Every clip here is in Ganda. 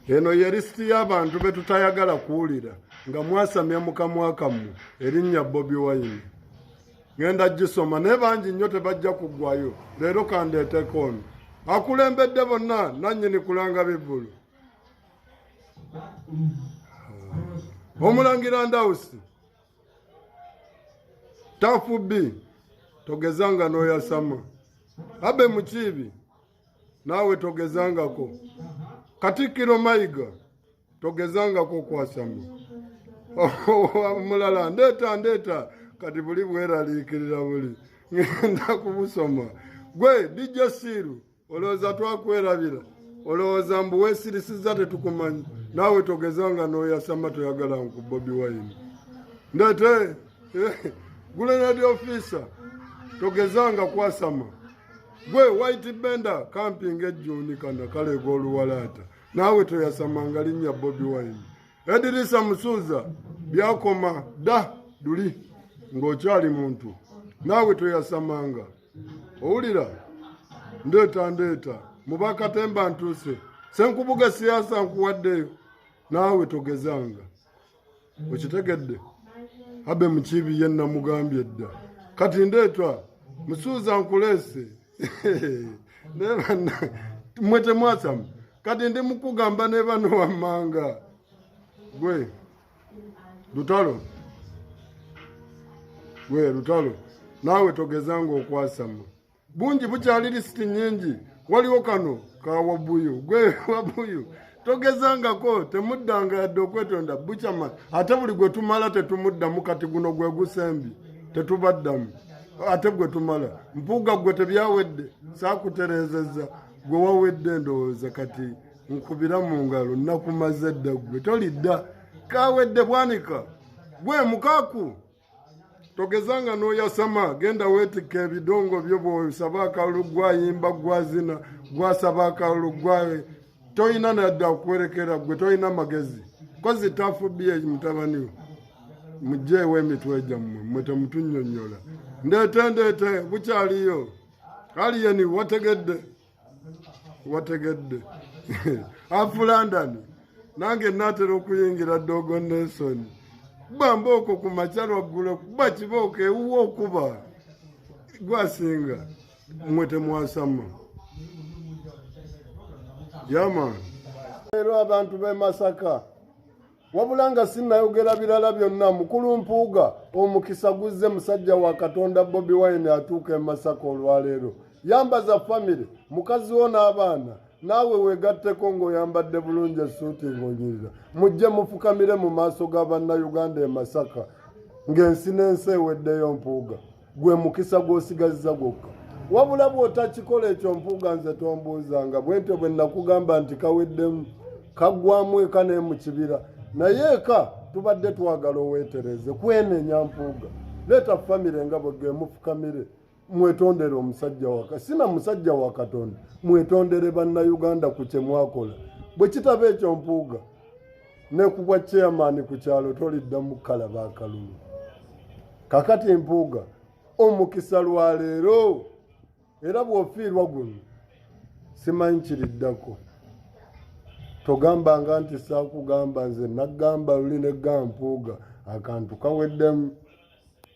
eno ye lisiti y'abantu be tutayagala kuwulira nga mwasamya mukamwakamu erinnya bobi wayini ŋenda gisoma naye bangi nnyo tebajja kuggwayo leero kandeeteko ono akulembedde bonna nannyini kulanga bivulu omulangira ndawusi tafu bi togezanga n'oyasama abe mukiibi naawe togezangako katikkiro mayiga togezangako okwasama omulala ndeeta ndeeta kati buli bweraliikirira buli ngenda kubusoma gwe dijjo siiru olowooza twakwerabira olowooza mbu wesirisiza tetukumanyi naawe togezanga noyasama toyagala nku bobi wayini ndeete eh, gulenadi ofiisa togezanga kwasama gwe white bender kampinga ejjuuni kana kaleega oluwalaata naawe toyasamanga linnya bobi wine edirisa musuuza byakoma da duli ng'okyali muntu naawe toyasamanga owulira ndeeta ndeeta mubakatemba ntuuse senkubuga siyaasa nkuwaddeyo naawe togezanga okitegedde abe mukibi ye namugambye dda kati ndeetwa musuuza nkuleese naye banna mwe temwasamu kati ndi mukugamba ne bano wammanga gwe lutalo gwe lutalo naawe togezanga okwasama bungi bukyali lisiti nyingi waliwo kano ka wabuyu gwe wabuyu togezangako temuddanga yadde okwetonda bucama ate buli gwe tumala tetumuddamu kati guno gwe gusembi tetubaddamu ate gwe tumala mpuuga gwe tebyawedde sakutereezezza gwe wawedde ndowooza kati nkubira mu ngalo nakumaze dda gwe tolidda kawedde bwanika gwe mukaku togezanga n'oyasama genda weetikka ebidongo byo bwosaba akalulu gwayimba gwazina gwasaba akalulu gwa tolina nadda okuwerekera gwe tolina magezi kozi tafubiye mutabani we mujeewo emitwe gyammwe mwe temutunyonyola ndeete ndeete bukyaliyo aliyeni wategedde wategedde afu london nange natera okuyingira dogo nelson kuba mbooko ku makya lwaggulo kuba kibooko ewuwa okuba gwasinga mwe temwasama yama leero abantu b'e masaka wabula nga sinnayogera birala byonna mukulu mpuuga omukisa guzze musajja wa katonda bobi wine atuuka e masaka olwaleero yambaza famire mukazi wo n'abaana naawe weegatteko ng'oyambadde bulungi esuuti ng'onyirira mujje mufukamire mu maaso ga bannayuganda e masaka ng'ensi n'ensi eweddeyo mpuuga gwe mukisa gw'osigazza gwokka wabula bw'otakikola ekyo mpuuga nze tombuuzanga bwentyo bwe nakugamba nti kaweddemu kaggwamu eka naye mu kibira naye eka tubadde twagala oweetereze kwenenya mpuuga leeta famire nga bwegge mufukamire mwetondere omusajja waka sina musajja wa katonda mwetondere bannayuganda ku kye mwakola bwe kitaba ekyo mpuuga ne ku bwa chairman ku kyalo toliddamu kalaba akalulu kakati mpuuga omukisa lwa leero era bw'ofiirwa guno simanyi kiriddako togambanga nti saakugamba nze naggamba luli ne gampuuga akantu kaweddemu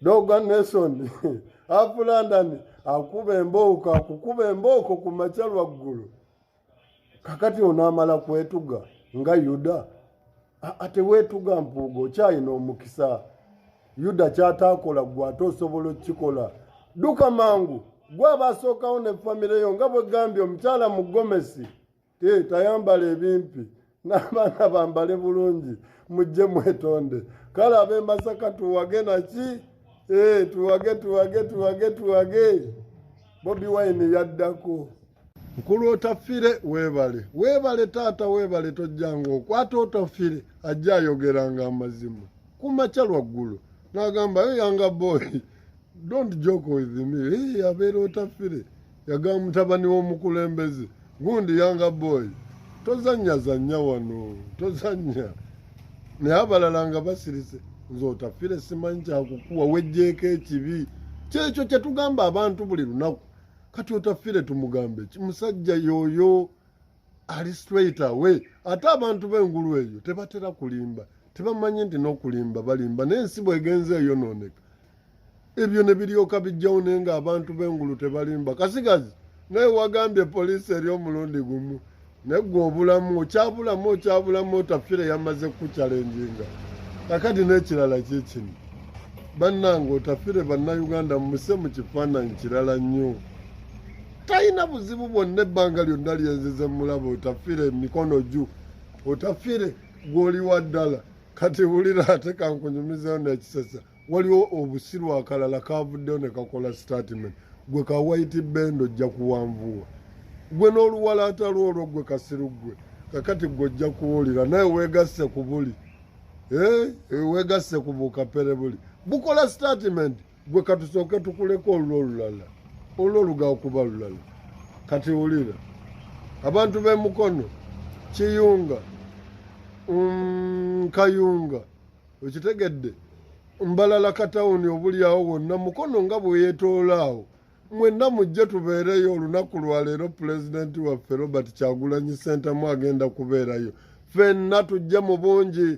doga nason afulandani akuba embooko akukuba embooko ku makya lwaggulu kakati onaamala kwetuga nga yuda ateweetuga mpuuga okyalina omukisa yuda kyataakola gwe ate osobola okukikola dduka mangu gwe aba asookawo ne famire yo nga bwegambye omukyala mu gomesi tayambala ebimpi n'abaana bambale bulungi mujje mwetonde kale ab'e masaka tuwage naki eh, tuwage tuwage tuwage tuwage bobi wine yaddako nkulu otafire webale webale taata webale tojjanga okwata otafire ajja ayogeranga amazima kumakya lwaggulu n'agamba yo yanga boyi don't joke with me hey, abeera otafire yagamba mutabani w'omukulembeze gundi yanga boy tozanya zanya wano tozanya naye abalala nga basirise nze otafire simanyi kyakukuwa wejjeeko ekibi kyekyo kyetugamba abantu buli lunaku kati otafire tumugambe ki musajja yoyo ali straight away ate abantu b'engulu eyo tebatera kulimba tebamanyi nti n'okulimba balimba naye ensi bwegenze eyonooneka ebyo ne biryoka bijjawo naye nga abantu b'engulu tebalimba kasigazi naye wagambye poliisi eri omulundi gumu naye gwe obulamu okyabulamu okyabulamu otafire yamaze kukukyalenjinga kakati n'ekirala kyekino bannange otafire bannayuganda muse mu kifaananyi kirala nnyo talina buzibu bwonna ebbanga lyonna lyenzize mulaba otafire emikono ju otafire gwoli wa ddala kati wulira ate kankunyumizeyo nekisesa waliwo obusiru akalala kavuddeyo ne kakola statement gwe ka waiti bendo ojja kuwanvuwa gwe n'oluwalaata lwo olwo gwe kasiru gwe kakati gwe ojja kuwulira naye wegasse ku buli eh, eh, wegasse ku bukapere buli bukola statement gwe katusooke tukuleko olwo olulala olwo oluga okuba lulala kati wulira abantu b'emukono kiyunga mm, kayunga okitegedde mbalala katawuni obulyawo wonna mukono nga bweyetoolaawo mwenna mujje tubeereyo olunaku lwaleero pulezidenti waffe robert kyagulanyi sentamu agenda kubeerayo fenna tujje mu bungi